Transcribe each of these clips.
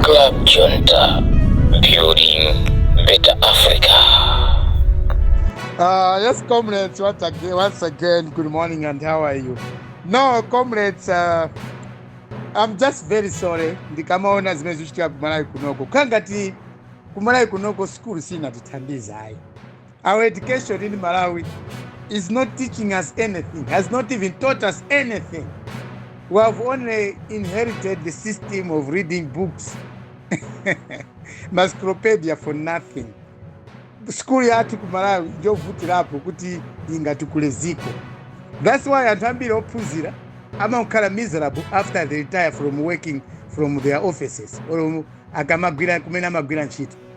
Club Junta, building better Africa. Uh, yes, comrades, once again, once again, good morning and how are you? No, comrades, uh, I'm just very sorry. Ndikamaona zimene zikuchitika kumalawi kunoko. Kangati kumalawi kunoko school sinatithandiza ayi. Our education in Malawi is not teaching us anything, has not even taught us anything. We have only inherited the system of reading books, encyclopedia for nothing. Sukulu yathu ku Malawi njovutirapo kuti ingatukule ziko. That's why anthu ambiri ophunzira amakhala miserable after they retire from working from their offices or akamagwira kumene amagwira ntchito.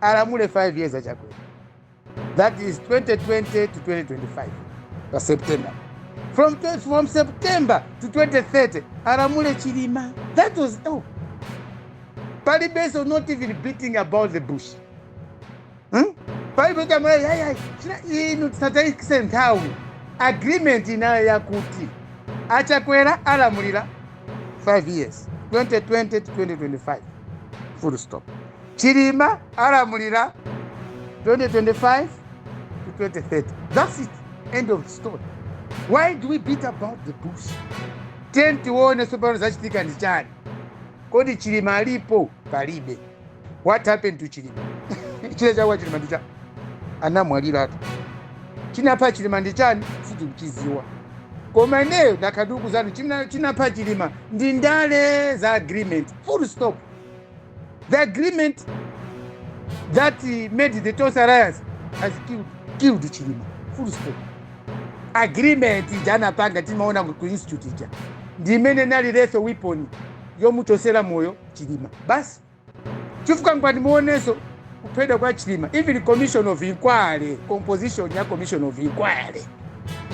alamule 5 years a chakwera that is 2020 to 2025 pa september from, tw- from september to 2030 alamule chilima that was all. palibenso not even beating about the bush hmm? palibe chamuna yayi china inu tisataitse nthawi agreement inayo yakuti achakwera alamulira 5 years 2020 to 2025 full stop Chilima alamulira 2025 to 2030 that's it end of story why do we beat about the bush tiyeni tione tsopano zachitika ndi chani kodi chilima alipo palibe what happened to chilima chili chakwa chilima ndi chani anamwaliratu chinapha chilima ndi chani sitikuchiziwa koma ineyo ndikukuuzani chimna- chinapha chilima ndi ndale za agreement full stop The agreement that he made the Tonse Alliance has killed, killed Chilima. Full stop. Agreement ija anapanga timaona ku institute ija ndi imene nali lethal weapon yomuchosera moyo Chilima. Basi chifukwa ngati muonenso kuphedwa kwa Chilima even commission of inquiry composition ya commission of inquiry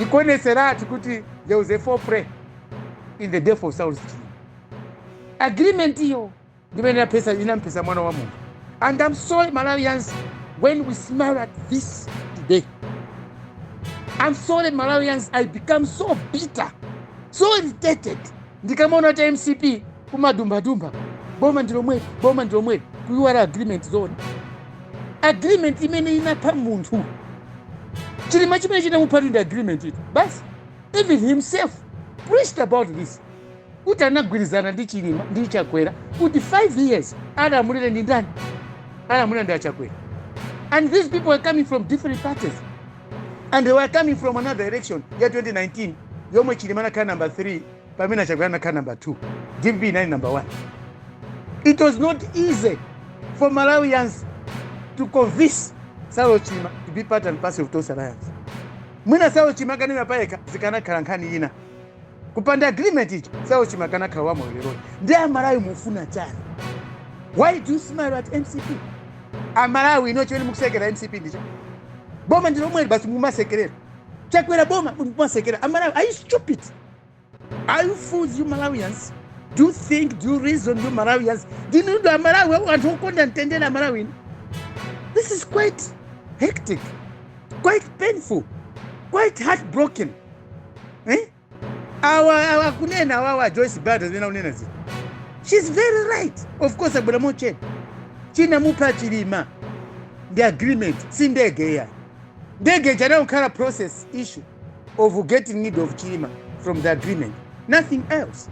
ikuoneseratu kuti there was a foul play in the death of Saulos Chilima. agreement iyo ndimene inaphetsa inamuphetsa mwana wa munthu and i'm sorry malawians when we smile at this today i'm sorry malawians i become so bitter so irritated ndikamaona kuti mcp kumadumbadumba boma ndilomweli boma ndilomweli kuiwala agreement yomwe agreement imene inapha munthu chilima chimene chinamuphatu ndi agreement iyo basi even himself preached about this kuti anagwirizana ndi chilima ndi chakwera kuti 5 years alamulire ndi ndani alamulira ndi achakwera and these people were coming from different parties and they were coming from another election ya 2019 yomwe chilima anakhala number 3 pamene achakwera anakhala number 2 dpp inali number 1 it was not easy for malawians to convince saulos chilima to be part and parcel of tonse alliance mwina saulos chilima akanaima payekha zikanakhala nkhani ina kupanda agreement ichi Saulos Chilima akanakhala wa moyo lero ndiye amalawi mufuna chani why do you smile at mcp amalawi inu chimene mukusekera mcp ndicho boma ndi lomweli basi mumasekerera chakwera boma mumasekerera amalawi are you stupid are you fools you malawians do you think do you reason you malawians ndinu ndani amalawi anthu okonda mtendere amalawi inu this is quite hectic quite painful quite heartbroken eh? awa awa kunena awawa joyce banda zimene akunena zija shes very right of course abwera mochedwa china mupha chilima ndi agreement si ndege ija ndege ija inangokhala process issue of getting rid of chilima from the agreement nothing else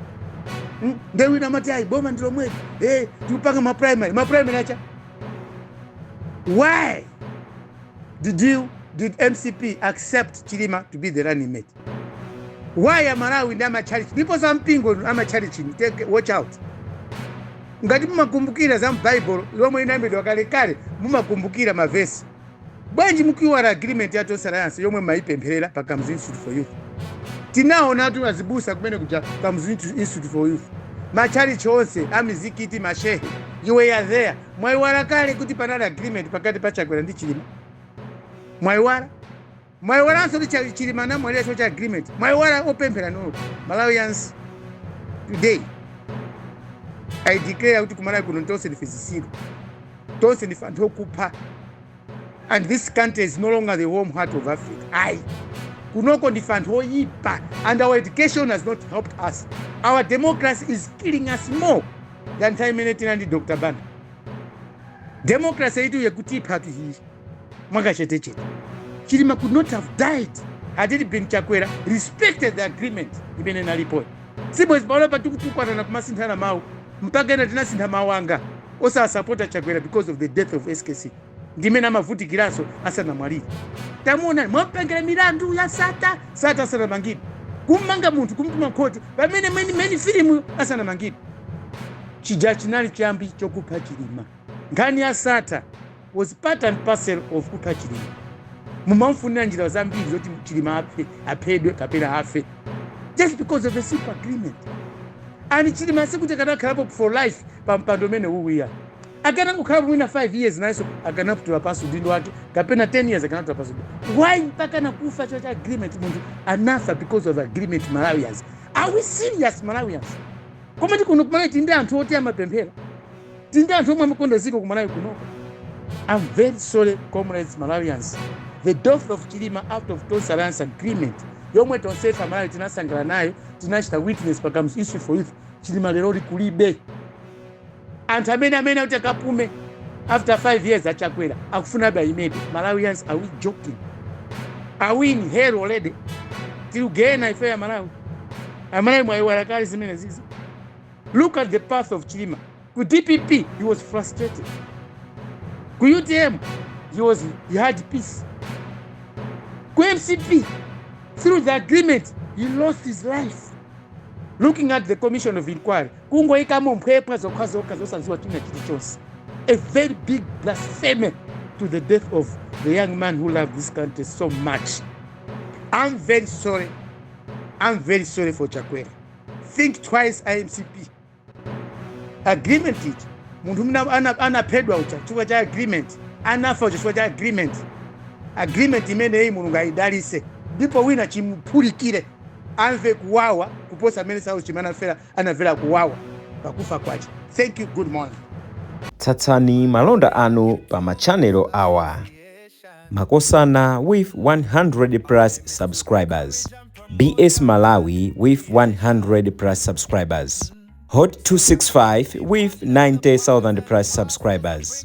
Mm, nde wina amati ayi boma ndi lomweli eh, tikupanga maprimary maprimary achani why Did you, did mcp accept chilima to be the running mate why amalawi ndi amatchalichi people za mpingo inu amatchalichi inu, take watch out ngati mumakumbukira za m'baibulo lomwe inayambidwa kalekale mumakumbukira mavesi bwanji mukuiwala agreement ya tonse alliance yomwe mmayipempherera pa Kamuzu institute for youth tinaonatu azibusa kumene kuja Kamuzu institute for youth matchalichi onse amizikiti mashehe you were there Mwaiwala kale kuti panali agreement pakati pa Chakwera ndi Chilima? Mwaiwala? Mwaiwalanso kuti Cha- Chilima anamwalira chifukwa cha agreement? Mwaiwala opemphera inu. Malawians today I declare kuti kumalawi kuno tonse ndife zisiru. Tonse ndife anthu okupha. And this country is no longer the home heart of Africa. Ayi. Kunoko ndife anthu oyipa and our education has not helped us. Our democracy is killing us more. than nthawi imene tinali ndi dr banda democracy iyitu ikutiphatu iyi mwakachetechete chilima could not have died had it been chakwera respected the agreement imene inalipoyo sibwezi pano pa tikutukwanana kumasinthana mawu mpaka ena ndinasintha mawu anga osasapota chakwera because of the death of skc ndi mmene amavutikiranso asanamwalire tamuonani mwamupangira milandu ya Sattar Sattar asanamangidwe kummanga munthu kumtuma ku khoti pamene mwini mwini filimuyo asanamangidwe chija chinali chiyambi chokupha chilima nkhani ya Sattar was part and parcel of kupha chilima mumamfunira njira zambiri zoti chilima aphe aphedwe kapena afe just because of a simple agreement and chilima sikuti akanakhalapo for life pa mpando umene uja Akanakhalapo mwina 5 years nayenso akanatula pansi udindo wake kapena 10 years akanatula pansi. Why mpaka nakufa chocha agreement munthu anafa because of agreement Malawians. Are we serious Malawians? Komatu kuno kumalawi tili ndi anthu oti amapemphera. Tili ndi anthu omwe amakonda ziko kumalawi kuno. I'm very sorry comrades Malawians. The death of Chilima out of Tonse Alliance agreement yomwe tonsefe aMalawi tinasangala nayo tinachita witness pa Kamuzu Institute for Youth Chilima lero lino kulibe. anthu amene amanena kuti akapume after 5 years achakwera akufuna aimebe malawians are we joking are we in hell already tili ku gehena ife amalawi amalawi mwayiwala kale zimenezi look at the path of chilima ku dpp he was frustrated ku utm he was he had peace ku mcp through the agreement he lost his life looking at the commission of inquiry kungoyikamo mphwepwa zokhazokha zosadziwa china chilichonse a very big blasphemy to the death of the young man who loved this country so much i'm very sorry i'm very sorry for chakwera think twice a mcp agreement ichi munthu mna ana- anaphedwa uja chifukwa cha agreement anafa uja chifukwa cha agreement agreement imeneyi mulungu ayidalise ndipo wina chimuphulikire amve kuwawa kuposa mmene saulosi chilima anafera anavela kuwawa pakufa kwace thank you good morning Tsatsani malonda anu pa ma channel awa. Makosana with 100 plus subscribers. BS Malawi with 100 plus subscribers. Hot 265 with 90,000 plus subscribers.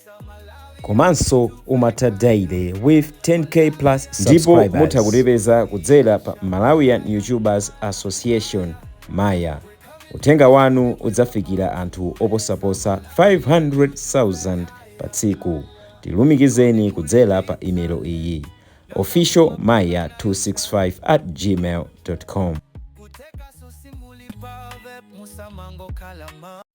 komanso umatha daily with 10k plus ndipo mutha kutipeza kudzera pa malawian youtubers association maya uthenga wanu udzafikira anthu oposaposa 500,000 pa tsiku tilumikizeni kudzera pa imelo iyi official maya 265 at gmail com